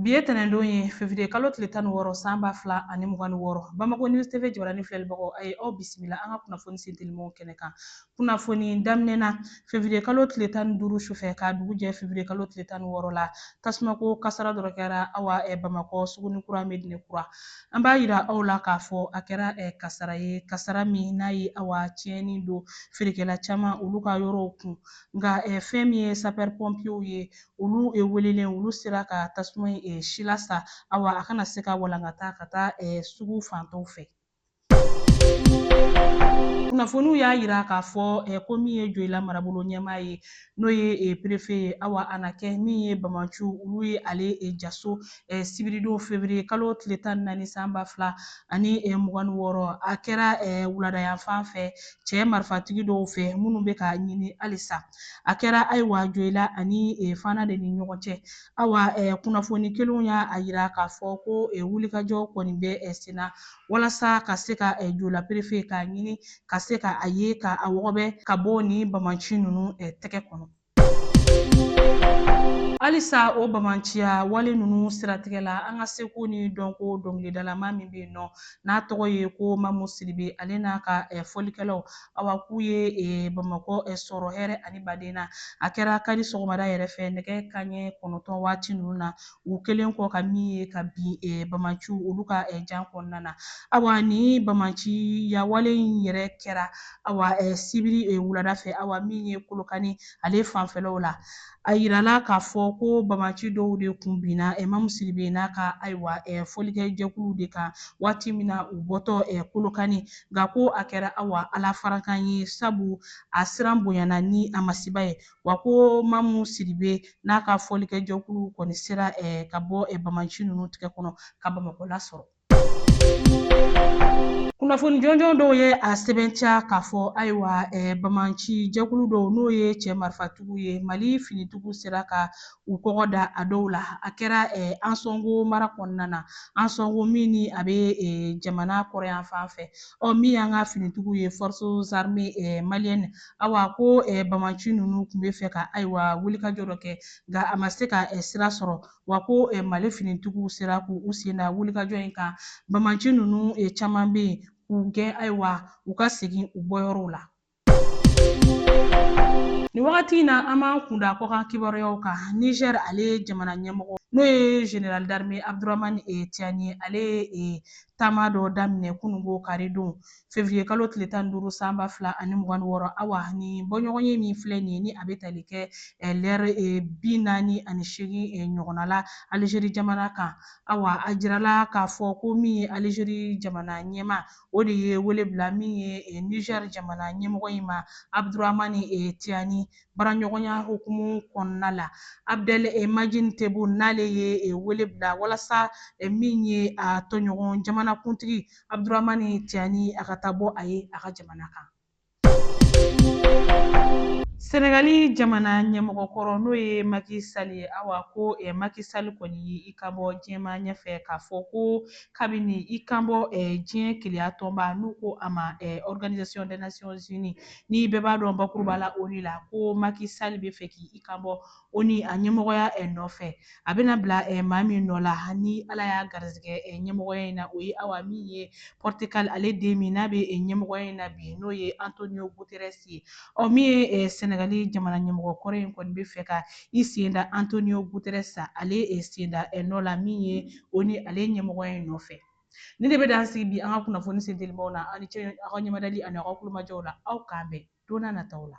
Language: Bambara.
Bi ye tɛnɛndon ye fevrier kalo tile tan ni wɔɔrɔ san ba fila ani mugan ni wɔɔrɔ Bamako News TV jabaranin filɛlibagaw a ye aw bisimila an ka kunnafoni sentelimanw kɛnɛ kan kunnafoni daminɛ na fevrier kalo tile tan ni duuru sufɛ k'a dugu jɛ fevrier kalo tile tan ni wɔɔrɔ la tasumako kasara dɔ kɛra awa Bamakɔ suguni kura Medine kura an b'a yira aw la k'a fɔ a kɛra kasara ye kasara min n'a ye awa tiɲɛni don feerekɛla caman olu ka yɔrɔw kun nka fɛn min ye sapɛri pɔnpiyew ye olu welelen olu sera ka tasuma in silasa awa a kana se ka walankata ka taa sugu fan tɔw fɛ kunnafoniw y'a yira k'a fɔ ko min ye Joyila marabolo ɲɛmaa ye n'o ye perefe ye awa a na kɛ min ye banbaanciw olu ye ale jaso sibiridon fevriye kalo tile tan ni naani san ba fila ani mugan ni wɔɔrɔ a kɛra wuladayanfan fɛ cɛ marifatigi dɔw fɛ minnu bɛ k'a ɲini halisa a kɛra ayiwa Joyila ani e, Fana de ni ɲɔgɔn cɛ awa e, kunnafoni kelenw y'a a yira k'a fɔ ko e, wulikajɔ kɔni bɛ e, senna walasa ka se ka e, Joyila perefe k'a ɲini ka se ka a ye ka a wɔgɔbɛ ka bɔ ni banbaanci ninnu e, tɛgɛ kɔnɔ. Halisa o banbaanciya wale ninnu siratigɛ la an ka seko ni dɔnko dɔnkilidalama min bɛ yen nɔ n'a tɔgɔ ye ko Mamu Sidibe ale n'a ka fɔlikɛlaw awa k'u ye eh, Bamakɔ eh, sɔrɔ hɛrɛ ani baden na. A kɛra kari sɔgɔmada yɛrɛ fɛ nɛgɛ kanɲɛ kɔnɔntɔn waati ninnu na u kɛlen kɔ ka min ye ka bin eh, banbaanciw olu ka eh, jan kɔnɔna na. Awa ni banbaanciya wale in yɛrɛ kɛra awa eh, sibiri eh, wulada fɛ awa min ye Kolokani ale fanfɛlaw la. A yirala k'a fɔ ko banbaanci dɔw de kun binna eh, Mamu Sidibe n'a ka ayiwa fɔlikɛjɛkuluw de kan waati min na u bɔtɔ Kolokani, nka ko a kɛra awa Ala farankan ye sabu a siran bonyana ni a masiba ye, wa ko Mamu Sidibe n'a ka fɔlikɛjɛkuluw kɔni sera ka bɔ banbaanci ninnu tigɛ kɔnɔ ka Bamakɔ lasɔrɔ. kunnafoni jɔnjɔn dɔw ye a sɛbɛntiya k'a fɔ ayiwa eh, banbaanci jɛkulu dɔw n'o ye cɛ marifatigiw ye Mali finitigiw sera ka u kɔgɔ da a dɔw la a kɛra eh, Ansɔngo mara kɔnɔna na Ansɔngo min ni a bɛ eh, jamana kɔrɔnyanfan fɛ ɔ min y'an ka finitigiw ye forces armées eh, maliennes awa ko eh, banbaanci ninnu tun b'a fɛ ka ayiwa wulikajɔ dɔ kɛ nka a ma se ka eh, sira sɔrɔ wa ko Mali finitigiw sera k'u sen da wulikajɔ in kan, banbaanci ninnu caman bɛ yen k'u gɛn ayiwa u ka segin u bɔyɔrɔw la. Nin wagati in na, an b'an kun da kɔkan kibaruyaw kan. Niger ale jamana ɲɛmɔgɔ n'o ye Général d'armée Abdourahmane Tiani ye, ale ye taama dɔ daminɛ kununko karidon Fevrier kalo tile tan ni duuru san ba fila ani mugan ni wɔɔrɔ awa ni bɔɲɔgɔnye min filɛ nin ye ni a bɛ tali kɛ eh, lɛri eh, bi naani ani seegin eh, ɲɔgɔnna la Algérie jamana kan awa a jirala k'a fɔ ko min ye Algérie jamana ɲɛmaa o de ye wele bila min ye Niger jamana ɲɛmɔgɔ in ma Abdourahmane Tiani baraɲɔgɔnya hukumu kɔnɔna la Abdelmadjid Tebboune n'ale ye wele bila walasa min ye a tɔɲɔgɔn jamanakuntigi Abdourahmane Tiani a ka taa bɔ a ye a ka jamana kan sɛnɛgali jamana ɲɛmɔgɔkɔrɔ n'o ye Macky Sall ye awa ko eh, Macky Sall kɔni ye i kan bɔ diɲɛmaa ɲɛfɛ k'a fɔ ko k'a bɛn'i kan bɔ eh, diɲɛ kelenya tɔnba n'u ko a ma eh, organisation des nations unies ni bɛɛ b'a dɔn bakuruba la ONU la ko Macky Sall bɛ fɛ k'i i kan bɔ ONU a ɲɛmɔgɔya eh, nɔfɛ a bɛna bila eh, maa min nɔ la ni ala y'a garizigɛ eh, ɲɛmɔgɔya in na o ye awa min ye portugal ale den min n'a bɛ ɲɛmɔgɔya in na bi n'o ye antonio guterres ye ɔ min ye senegali jamana ɲɛmɔgɔ kɔrɔ in kɔni bɛ fɛ ka i sen da antonio guterres ale sen da nɔ la min ye ONU ale ɲɛmɔgɔya in nɔfɛ ni de bɛ dan sigi bi an ka kunnafoni sentelimaw na aw ni ce aw ka ɲɛmadali ani aw ka kulomajɔw la aw k'an bɛn don n'a nataw la